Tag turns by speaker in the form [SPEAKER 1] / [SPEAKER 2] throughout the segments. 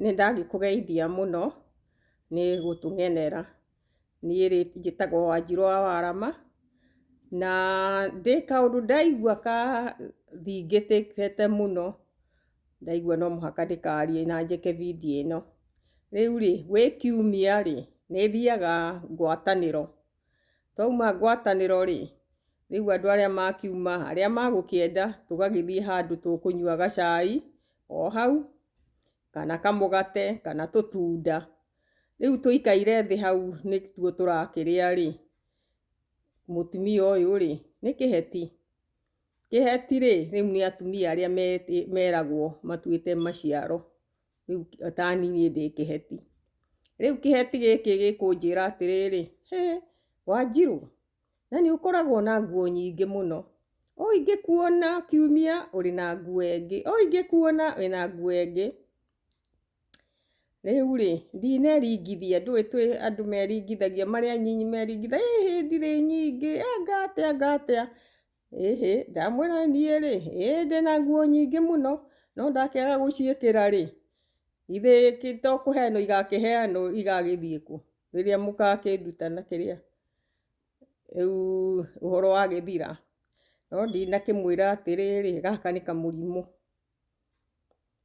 [SPEAKER 1] Nĩ ndagĩkũgeithia mũno nĩ gũtũgenera. Niĩ rĩ njĩtagwo Wanjirũ wa Warama, na ndĩ kaũndũ ndaigua kathingĩte mũno, ndaigua no mũhaka ndĩkarie na njĩke video ĩno. Rĩu rĩ, gwĩ kiumia rĩ, nĩ thiaga ngwatanĩro. Twauma ngwatanĩro-rĩ, rĩu andũ arĩa makiuma, arĩa magũkĩenda, tũgagĩthiĩ handũ tũkũnyua gacai o hau, kana kamũgate, kana tũtunda. Rĩu tũikaire thĩ hau nĩtuo tũrakĩrĩa-rĩ, mũtumia ũyũ-rĩ, nĩ kĩheti. Kĩheti-rĩ, rĩu nĩ atumia arĩa meragwo matuĩte maciaro rĩu tani niĩ ndĩ kĩheti rĩu kĩheti gĩkĩ gĩkũnjĩra atĩrĩrĩ hĩ wanjirũ na nĩ ũkoragwo na nguo nyingĩ mũno o ingĩkuona kiumia ũrĩ na nguo ĩngĩ o ingĩkuona wĩna nguo ĩngĩ rĩu rĩ ndineringithia ndũĩ twĩ andũ meringithagia marĩ anyinyi meringithagia ĩ hĩndĩ rĩ nyingĩ anga atĩa anga atĩa Ĩhĩ, ndamwĩra niĩ-rĩ, ĩĩ ndĩ na nguo nyingĩ mũno, no ndakĩaga gũciĩkĩra-rĩ, githĩ kĩ to kũheanwo igakĩheanwo igagĩthiĩ kũ, rĩrĩa mũgakĩnduta na kĩrĩa, rĩu ũhoro wagĩthira? No ndinakĩmwĩra atĩrĩrĩ, gaka nĩ kamũrimũ.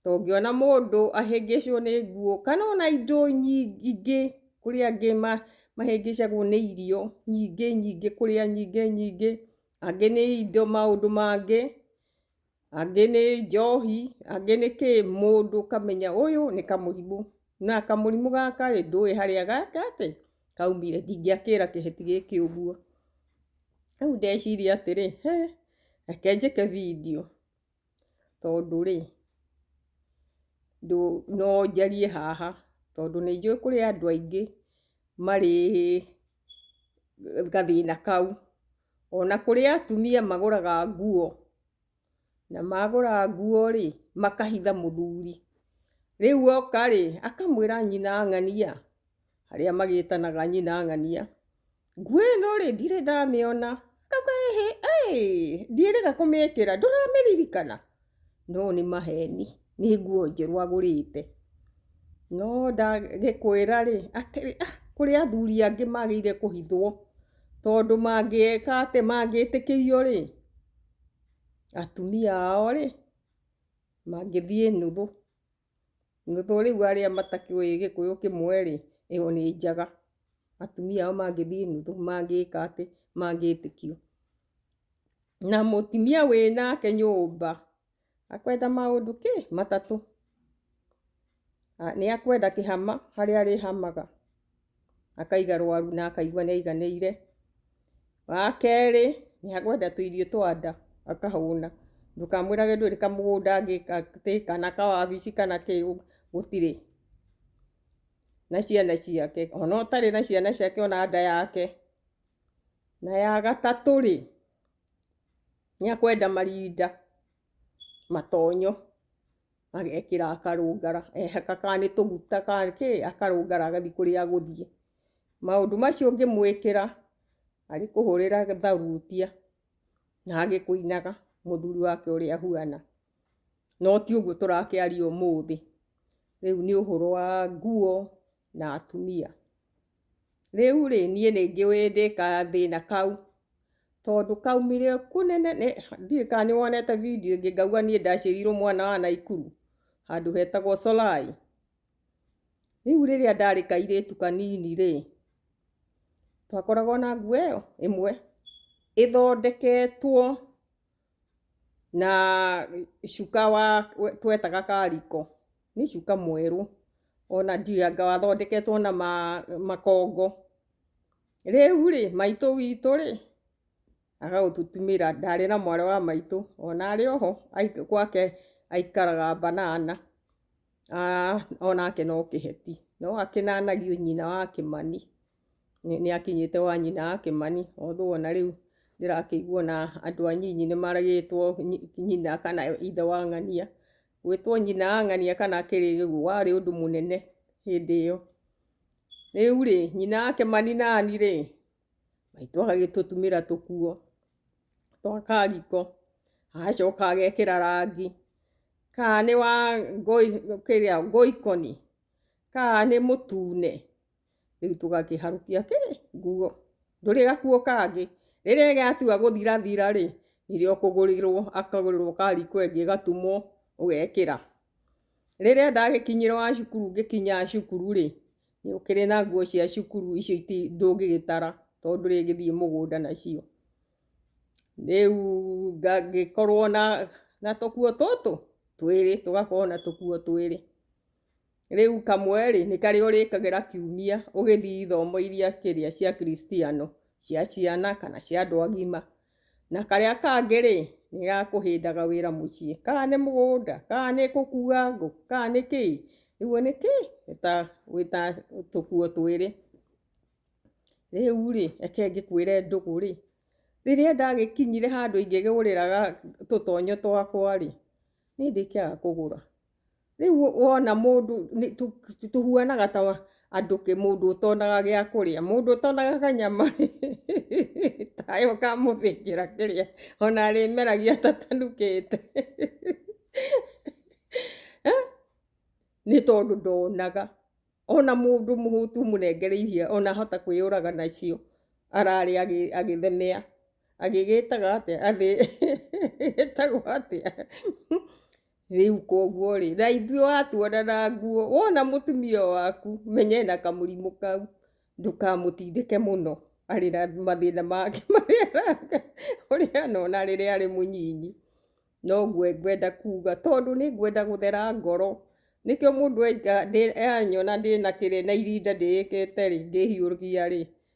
[SPEAKER 1] tongĩona mũndũ ahĩngĩcwo nĩ nguo kana ona indo nyingĩ kũrĩ angĩ mahĩngĩcagwo nĩ irio nyingĩ nyingĩ kũrĩa nyingĩ nyingĩ, angĩ nĩ indo maũndũ mangĩ, angĩ nĩ njohi, angĩ nĩ kĩ, mũndũ ũkamenya ũyũ nĩ kamũrimũ na kamũrimũ gaka ĩ ndũĩ harĩa kaumire ndingĩakĩra kĩheti gĩkĩ ũguo, rĩu ndeciria atĩrĩ reke njĩke bindiũ. tondũ rĩ, no njarie haha tondũ nĩ njũĩ kũrĩ andũ aingĩ marĩ gathĩna kau. Ona kũrĩ atumia magũraga nguo, na magũra nguo rĩ, makahitha mũthuri. Rĩu oka rĩ, akamwĩra nyina ng'ania, arĩa magĩtanaga nyina ng'ania. nguĩ no rĩ ndirĩ ndamĩona kakwĩhĩ ndiĩrĩga kũmĩkĩra ndũramĩririkana no nĩ maheni nĩ nguo njerũ agũrĩte no ndagĩkwĩra rĩ atĩrĩ ah kũrĩ athuri angĩ magĩrĩire kũhithwo tondũ mangĩka atĩ mangĩtĩkĩrio rĩ atumia ao rĩ mangĩthiĩ nũthũ. Rĩu arĩa matakĩũĩ gĩkũyũ kĩmwe-rĩ, ĩyo nĩ njaga. Atumia ao mangĩthiĩ nuthu, mangĩka atĩ, mangĩtĩkio. Na mũtumia wĩ nake nyũmba, akwenda maũndũ kĩ? Matatũ. Nĩ akwenda kĩhama harĩa arĩhamaga. akaiga rwaru na akaigua nĩ aiganĩire. Wa kerĩ, nĩ akwenda tũirio twa nda, akahũna. Ndũkamwĩrage ndũrĩ kamũgũnda angĩka atĩ, kana kawabici kana kĩ, gũtirĩ. Na ciana ciake, o na ũtarĩ na ciana ciake ona nda yake. Na ya gatatũ rĩ, nĩ akwenda marinda, matonyo. agekĩra akarũngara ehaka kana nĩ tũguta kana kĩ akarũngara agathiĩ kũrĩa agũthiĩ maũndũ macio ũngĩmwĩkĩra arĩ kũhũrĩra tharutia na agĩkũinaga mũthuri wake ũrĩa ahuana no ti ũguo tũrakĩaria ũmũthĩ rĩu nĩ ũhoro wa nguo na atumia. Rĩu-rĩ, niĩ nĩ njũĩ ndĩ gathĩna kau, tondũ kaumire kũnene, ndiũĩ kana nĩ wonete video ĩngĩ ngauga niĩ ndaciarirwo mwana wa Naikuru, handũ hetagwo Solai. Rĩu rĩrĩa ndarĩ kairĩtu kanini-rĩ, twakoragwo na nguo ĩyo ĩmwe ĩthondeketwo. na cuka wa twetaga kariko nĩ cuka mwerũ ona ndianga wathondeketwo na ma, makongo rĩu rĩ maitũ witũ rĩ agagũtũtumĩra ndarĩ na mwarĩ wa maitũ ona arĩ oho aik- gwake aikaraga banana Ah, onake no kĩheti no akĩnanagio nyina wa kĩmani nĩ akinyĩte wa nyina wa Kĩmani, although ona rĩu ndĩrakĩigua na andũ anyinyi nĩ maragĩtwo nyina kana ithe wa ng'ania. Gwĩtwo nyina wa ng'ania kana akĩrĩ ũguo warĩ ũndũ mũnene hĩndĩ ĩyo. Rĩu rĩ, nyina wa Kĩmani nani rĩ, maitũ agagĩtũtumĩra tũkuo twa kariko, agacoka agekĩra rangi, kana nĩ wa ngoikoni, kana nĩ mũtune. rĩu tũgakĩharũkia kĩ nguo ndũrĩ gakuo kangĩ rĩrĩa ĩgatua gũthirathira rĩ nĩrĩo kũgũrĩrwo akagũrĩrwo kari kwengĩ gatumwo ũgekĩra rĩrĩa ndagĩkinyĩrwo wa cukuru ngĩkinya cukuru rĩ nĩ ũkĩrĩ na nguo cia cukuru icio ndũngĩgĩtara tondũ ndũrĩgĩthiĩ mũgũnda nacio rĩu ngagĩkorwo na tũkuo tũtũ twĩrĩ tũgakorwo na tũkuo twĩrĩ. Rĩu kamwe-rĩ, nĩ karĩa ũrĩkagĩra kiumia ũgĩthiĩ ithomo iria kĩrĩa cia Kristiano, cia ciana kana cia andũ agima. Na karĩa kangĩ-rĩ, nĩ ga kũhĩndaga wĩra mũciĩ. Kana nĩ mũgũnda, kana nĩ gũkua ngũ, kana nĩ kĩĩ, ũguo nĩ kĩ? Nĩ ta, wĩ ta tũkuo twĩrĩ. Rĩu-rĩ, reke ngĩkwĩre ndũgũ-rĩ, rĩrĩa ndagĩkinyire handũ ingĩgĩgũrĩra tũtonyo twakwa-rĩ, nĩ ndĩkĩaga kũgũra. rĩu wona mũndũ tũhuanaga ta andũ kĩ mũndũ ũtonaga gĩa kũrĩa mũndũ ũtonaga kanyama tayo kamũthĩnjĩra kĩrĩa ona arĩmeragia tatanukĩte nĩ tondũ ndonaga ona mũndũ mũhũtu mũnengere iria ona ahota kwĩyũraga nacio ararĩ agĩthemea agĩgĩtaga atĩa agĩgĩtagwo atĩa Rĩu koguo rĩ, na ithuĩ watuona na nguo, wona mũtumia waku, menya ena kamũrimũ kau, ndũkamũtindĩke mũno arĩ na mathĩna make marĩa ũrĩ anona rĩrĩa arĩ mũnyinyi. Noguo ngwenda kuga, tondũ nĩ ngwenda gũthera ngoro, nĩkĩo mũndũ anyona ndĩna kĩrĩa na irinda ndĩĩkĩte rĩ, ndĩhiũhia rĩ,